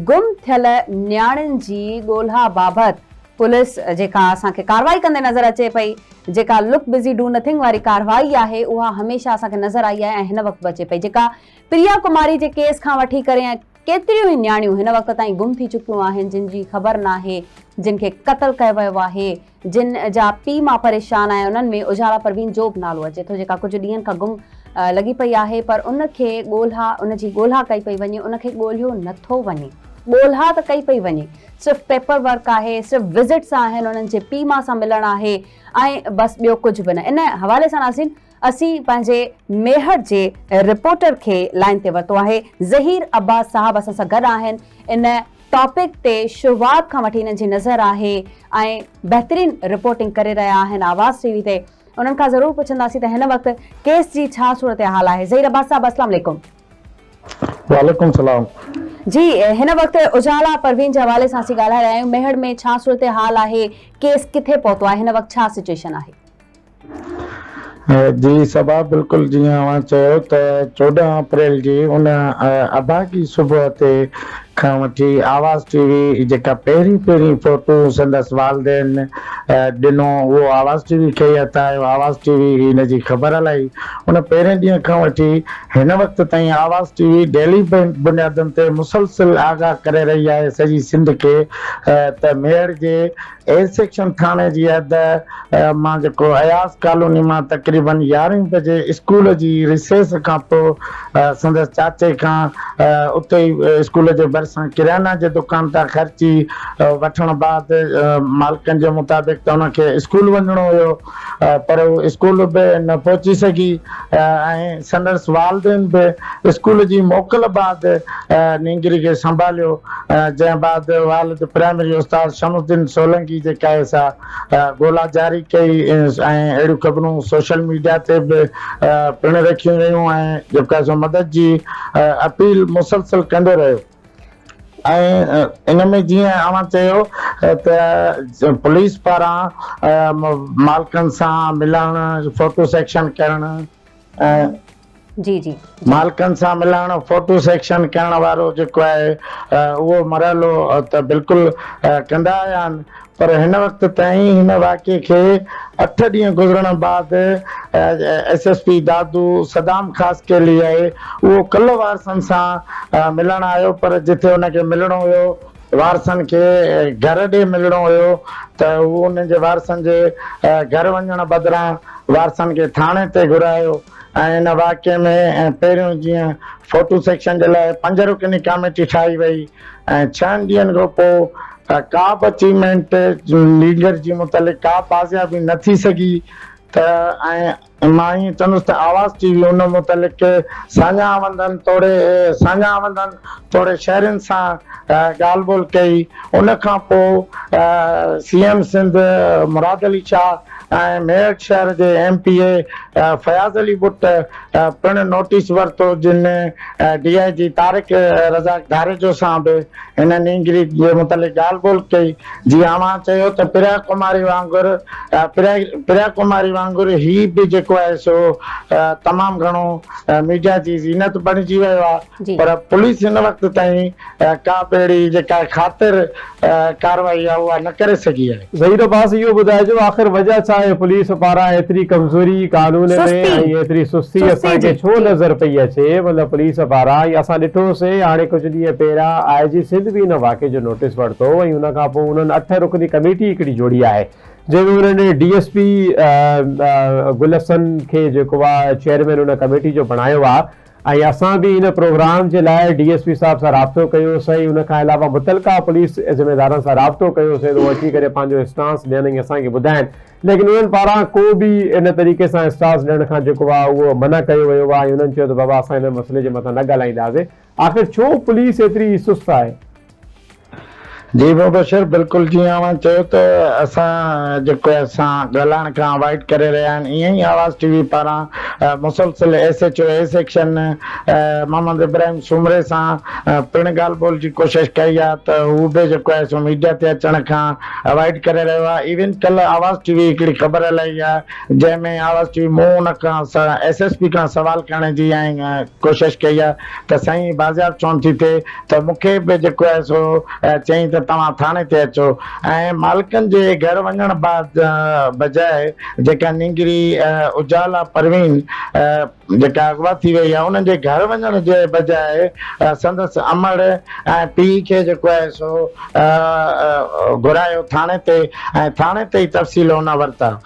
گم ٿيل نياڻين جي ڳولها بابت پوليس جيڪا اسان کي ڪارروائي ڪندي نظر اچي پئي، جيڪا لڪ بزي ڊو نٿنگ واري ڪارروائي آهي اها هميشه اسان کي نظر آئي آهي ۽ هن وقت به اچي پئي جيڪا پريا ڪماري جي ڪيس کان وٺي ڪري ۽ ڪيتريون ئي نياڻيون هن وقت تائين گم ٿي چڪيون آهن جن جي خبر ناهي جن کي قتل ڪيو ويو آهي جن جا پي مان پريشان آهي انهن ۾ اجهالا پروين جو به نالو اچي ٿو جيڪا ڪجهه ڏينهن کان گم لڳي پئي آهي پر ان کي ڳولها ان جي ڳولها ڪئي پئي وڃي ان کي ڳولهيو نه ٿو وڃي. ڳولها ته ڪئي پئي وڃي صرف پيپر ورڪ آهي صرف وزٽس آهن انهن جي پي مان سان ملڻ آهي ۽ بس ٻيو ڪجهه به نه ان حوالي سان ناظرين اسين پنهنجي ميهڙ جي رپورٽر کي لائين تي ورتو آهي ظهير عباس صاحب اسان سان گڏ آهن ان ٽاپڪ تي شروعات کان وٺي انهن جي نظر آهي ۽ بهترين رپورٽنگ ڪري رهيا آهن آواز ٽي وي تي انهن کان ضرور پڇنداسين ته هن وقت ڪيس جي ڇا صورتحال آهي ظهير عباس صاحب اسلام عليڪم وعليڪم السلام جي هن وقت اجالا پروين جي حوالي سان اسين ڳالهائي رهيا آهيون ميهڙ ۾ ڇا صورتحال آهي ڪيس ڪٿي پهتو آهي هن وقت ڇا سچويشن آهي جي صبا بلڪل جيئن اوهان چيو ته چوڏهن اپريل جي ان اڀاڳي صبح تي کان وٺي آواز ٽي وي جيڪا پهرين پهرين فوٽون سندس والدين ڏنو اهو آواز ٽي وي کي ئي عطا آيو آواز ٽي وي ان جي خبر هلائي ان پهرين ڏينهن کان وٺي هن وقت تائين آواز ٽي وي ڊيلي بنيادن تي مسلسل آگاهه ڪري رهي آهي سڄي سنڌ کي ته ميهڙ جي اي سيڪشن ٿاڻي جي حد مان جيڪو اياز ڪالوني مان تقريبن يارهين بجي اسڪول جي ريسيس کان پوء سندس چاچي کان اتي ئي اسڪول جي ڀرسان ڪريانه جي دڪان تان خرچي وٺڻ بعد مالڪن جي مطابق ته ان کي اسڪول وڃڻو هيو پر هو اسڪول به نه پهچي سگهي ۽ سندس والدين به اسڪول جي موڪل بعد نينگري کي سنڀاليو، جنهن بعد والد پرائمري استاد شمس الدين سولنگي جي ڪئي سا ڳولا جاري ڪئي ۽ اهڙيون خبرون سوشل ميڊيا تي به پڻ رکيون ويون ۽ جيڪا سو مدد جي اپيل مسلسل ڪندو رهيو. ۽ ان ۾ جيئن اوهان چيو ته پوليس پاران مالڪن سان ملڻ، فوٽو سيڪشن ڪرڻ ۽. جي جي. مالڪن سان ملڻ، فوٽو سيڪشن ڪرڻ وارو جيڪو آهي اهو مرحلو ته بلڪل ڪندا آيا آهن. پر هن وقت تائين هن واقعي کي اٺ ڏينهن گذرڻ بعد S S P Dadu Saddam Khaskheli آهي اهو ڪلهه وارثن سان ملڻ آيو پر جتي ان کي ملڻو هيو وارثن کي گهر ڏي ملڻو هيو ته هو انهن جي وارثن جي گهر وڃڻ بدران وارثن کي ٿاڻي تي گهرايو ۽ ان واقعي ۾ پهريون جيئن فوٽو سيڪشن جي لاء پنج رڪني ڪاميٽي ٺاهي وئي ۽ ڇهن ڏينهن کان پوء ڪا به اچيومينٽ ليگر جي متعلق ڪا بازيابي نه ٿي سگهي ته ۽ مان ائين چوندس ته آواز ٽي وي ان متعلق ساڃاهوندن توڙي ساڃاهوندن توڙي شهرين سان ڳالهه ٻولهه ڪئي ان کان پوء سي ايم سنڌ مراد علي شاهه ۽ ميرٺ شهر جي M P A Fayaz Ali ٻٽ پڻ نوٽيس ورتو جن ڊي آء جي طارق رزاق ڌاريجو سان به هن نينگري جي متعلق ڳالهه ٻولهه ڪئي جي اوهان چيو ته پريا ڪماري وانگر پريا ڪماري وانگر هي به جيڪو آهي سو تمام گهڻو ميڊيا جي زينت بڻجي ويو آهي. پر پوليس هن وقت تائين ڪا به اهڙي جيڪا خاطر ڪارروائي آهي اها نه ڪري سگهي آهي. ظهير عباس اهو ٻڌائجو آخر وجه ڇا آهي پوليس پاران ايتري ڪمزوري قانون ۾ ۽ ايتري سستي اسان کي ڇو نظر پئي اچي مطلب پوليس پاران ۽ اسان ڏٺو سي هاڻي ڪجهه ڏينهن پهريان آء جي سنڌ به ان واقعي جو نوٽيس ورتو ۽ ان کان پوء انهن اٺ رڪني ڪميٽي هڪڙي جوڙي آهي جنهن ۾ انهن D S P Gul Hassan کي جيڪو آ چيئرمين ان ڪميٽي جو بڻايو آ ۽ اسان به ان پروگرام جي لاء ڊي ايس پي صاحب سان رابطو ڪيو سين ان کان علاوه متعلقه پوليس ذميدارن سان رابطو ڪيو سين هو اچي ڪري پنهنجو اسٽانس ڏين ۽ اسان کي ٻڌائين ليڪن انهن پاران ڪو به ان طريقي سان اسٽانس ڏيڻ کان جيڪو آهي اهو منع ڪيو ويو آهي ۽ انهن چيو ته بابا اسان ان مسئلي جي مٿان نه ڳالهائينداسين آخر ڇو پوليس ايتري سست آهي. جي مبشر بلڪل جيئن اوهان چيو ته اسان جيڪو اسان ڳالهائڻ کان اوائڊ ڪري رهيا آهن ايئن ئي آواز ٽي وي پاران مسلسل S H O A section Muhammad Ibrahim Soomro سان پڻ ڳالهه ٻولهه جي ڪوشش ڪئي آهي ته هو به جيڪو آهي سو ميڊيا تي اچڻ کان اوائڊ ڪري رهيو آهي ايون ڪلهه آواز ٽي وي هڪڙي خبر هلائي آهي جنهن ۾ آواز ٽي وي مون ان کان ايس ايس پي کان سوال ڪرڻ جي ڪوشش ڪئي آهي ته سائين بازياب ڇونه ٿي ٿئي ته مون کي به جيڪو آهي سو چئين ته توهان ٿاڻي تي اچو ۽ مالڪن جي گهر وڃڻ بعد بجاء جيڪا نينگري اجالا پروين جيڪا اغوا ٿي وئي آهي انهن جي گهر وڃڻ جي بجاء سندس امڙ ۽ پيء کي جيڪو آهي سو گهرايو ٿاڻي تي ۽ ٿاڻي تي ئي تفصيل هن ورتا.